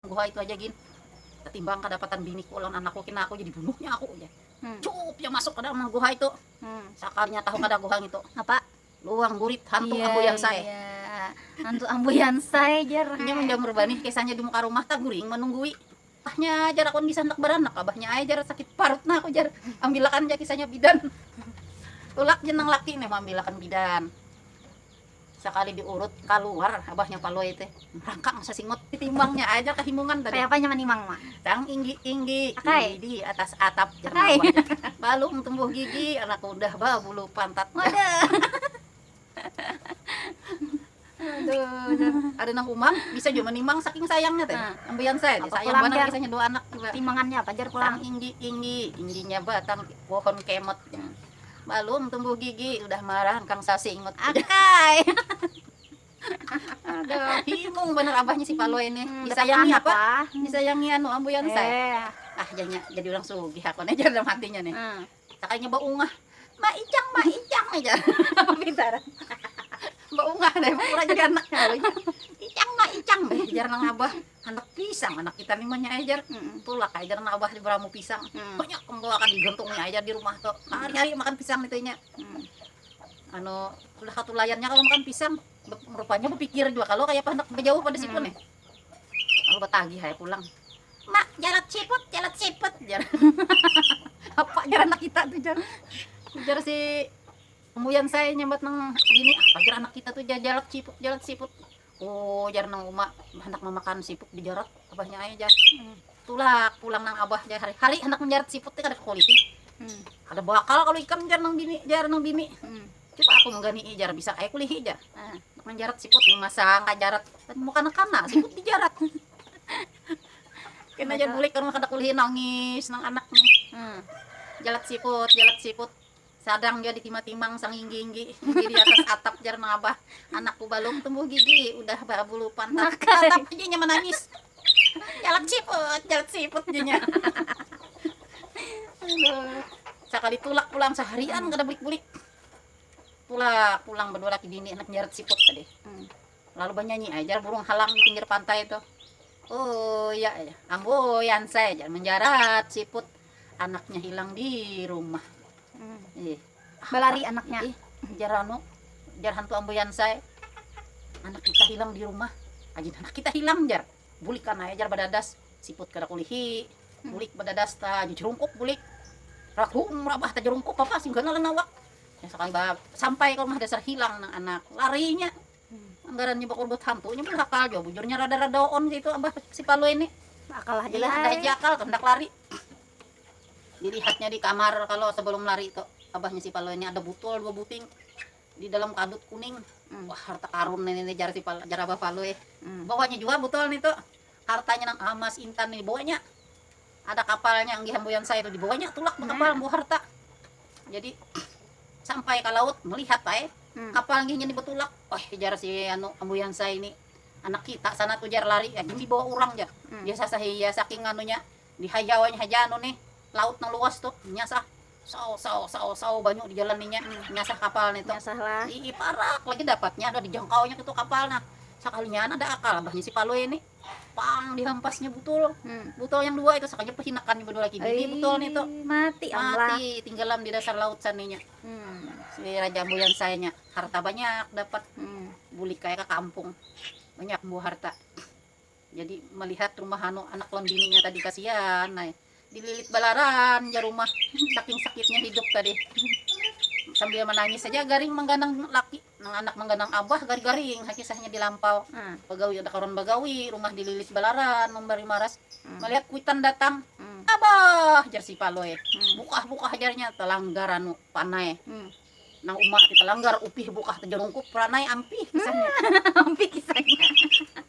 Guha itu haja gin, katimbang kadapatan biniku lawan anakku kina aku jadi bunuhnya aku ujar. Cuup iya masuk ka dalam guha itu, sakalinya tahu kada guha ngitu. Apa? Luang burit hantu ambuyansai. Iya iya, hantu ambuyansai jar. Inya manjamur banih kisahnya di muka rumah taguring manunggui abahnya jar aku bisa handak baranak abahnya ai jar sakit parut nah aku jar ambilakan ja kisahnya bidan. Tulak ja nang laki nih mambilakan bidan. Sakali diurut kaluar abahnya Palui teh rangkang sasingut. Ditimbangnya aja kahimungan tadi. Kaya apanya manimang Mak? Tang inggi-inggi di atas atap jar Mawar. Balum tumbuh gigi anak udah babulu pantat. Ada nang umang bisa jua manimang saking sayangnya teh. Ambian saja sayang banar kisahnya dua anak jua. Timangannya apa jar pulang? Tang inggi-inggi, ingginya batang pohon kemot. Balum tumbuh gigi udah marah engkang sasi ingut akay. Aduh, himung bener abahnya si Palui ini. Hmm, Disayangi apa? Ah. Disayangi anu ambuyan eh. saya. Ah, jadinya jadi orang sugih aku nih dalam hatinya nih. Hmm. Sakalinya baungah. Mbak Icang, Mbak Icang aja. Apa pintaran? Mbak Ungah deh, pura jadi anaknya. Icang, Mbak Icang. Biar nang abah. Handak pisang anak kita ni manyai jar, tulak ai jar anak abah ni baramu pisang, banyak pang tuh akan digantung nya ai jar di rumah tuh, hari hari makan pisang nitu inya, anu sudah katulayan nya kalo makan pisang, rupanya bapikir jua kalo kayapa handak bajauh pada situ nih, lalu batagih ai pulang, ma jalat siput jalat siput jar apa jar anak kita tuh jar, ujar si muyan saya nyambat nang bini apa jar anak kita tuh jar jalat siput jalat siput. Ujar nang uma handak mamakan siput dijarat abahnya ai jar. Tulak pulang nang abah jar hari hari handak manjarat siput ni kada kakuliti. Kada baakal kalu ikam jar nang bini jar nang bini. Cuba aku manggani'i jar bisa ai kulihi jar. Handak manjarat siput ni masa angka jarat mu kana kana siput dijarat. Kena jar bulik ka rumah kada kulihi nangis nang anak ni. Jalat siput jalat siput. Sadang jua ditimah-timang sanginggi-inggi di diatas atap jar nang abah, anakku balum tumbuh gigi, udah barabulu pantat, tatap haja inya manangis, jalat siput jalat siput jar nya aduh. Sakali tulak pulang saharian kada bulik-bulik, tulak pulang badua laki bini handak jarat siput tadi, lalu banyanyi ai jar burung halang di pinggir pantai tu, uya jar, ambuyan saya jar manjarat siput. anaknya hilang di rumah ih balari anaknya ih jarano jar hantu ambuyansai anak kita hilang di rumah aja anak kita hilang jar bulik kan aja jar badadas siput kada kulihi hmm. bulik badadas ta jerungkup bulik ragu merabah ta jerungkup apa sih gana lenawak ya sekali sampai ke rumah dasar hilang nang anak larinya Ngarannya bakurbat hantu nya berhakal jua bujurnya rada rada on kaitu abah si palui ni akal haja lah ada haja akal tu handak lari dilihatnya di kamar kalo sebelum lari tu abahnya si palui ni ada butol dua buting di dalam kadut kuning wah harta karun ini jar abah palui bawanya jua butol nitu. Hartanya nang amas intan ni dibawanya, ada kapalnya yang dihambuian saya tu dibawanya tulak bakapal membawa harta. Jadi sampai ka laut melihat ai kapal nginnya ni batulak, wah jar si anu hambuian saya ni anak kita sana tu jar lari, gin dibawa urang jar, biasa saja saking anunya. Di hajauannya haja anu nih, laut nang luas tuh, nyasah. Saw, saw, saw, saw, banyu di jalan inya, nyasah kapal nih tuh. Nyasah lah. Ii, parak lagi dapatnya, udah dijangkaunya itu kapal nah. Sakalinya anak ada akal abahnya si Palui nih. Pang, dihampasnya butul. Hmm. Butul yang dua itu, sakalinya pahinakannya berdua lagi. Bini Ii, butul nih tuh. Mati am lah. Mati, tinggalam di dasar laut saninya. Hmm. Si Raja Ambuyan sayanya, harta banyak dapat. Hmm. Bulik kaya ke kampung. Banyak buah harta. Jadi melihat rumah anu anak lawan bininya tadi kasian ai dililit balaran ja rumah saking sakitnya hidup tadi sambil manangis saja garing mangganang laki nang anak mangganang abah gargaring ha kisahnya di lampau hmm. bagawi ada kawan bagawi rumah dililit balaran membari maras hmm. melihat kuitan datang hmm. abah jar si paloy hmm. bukah bukah jarnya telanggar anu panai hmm. nang umak kita langgar upih bukah tejerungkup ranai ampih kisahnya hmm. ampih kisahnya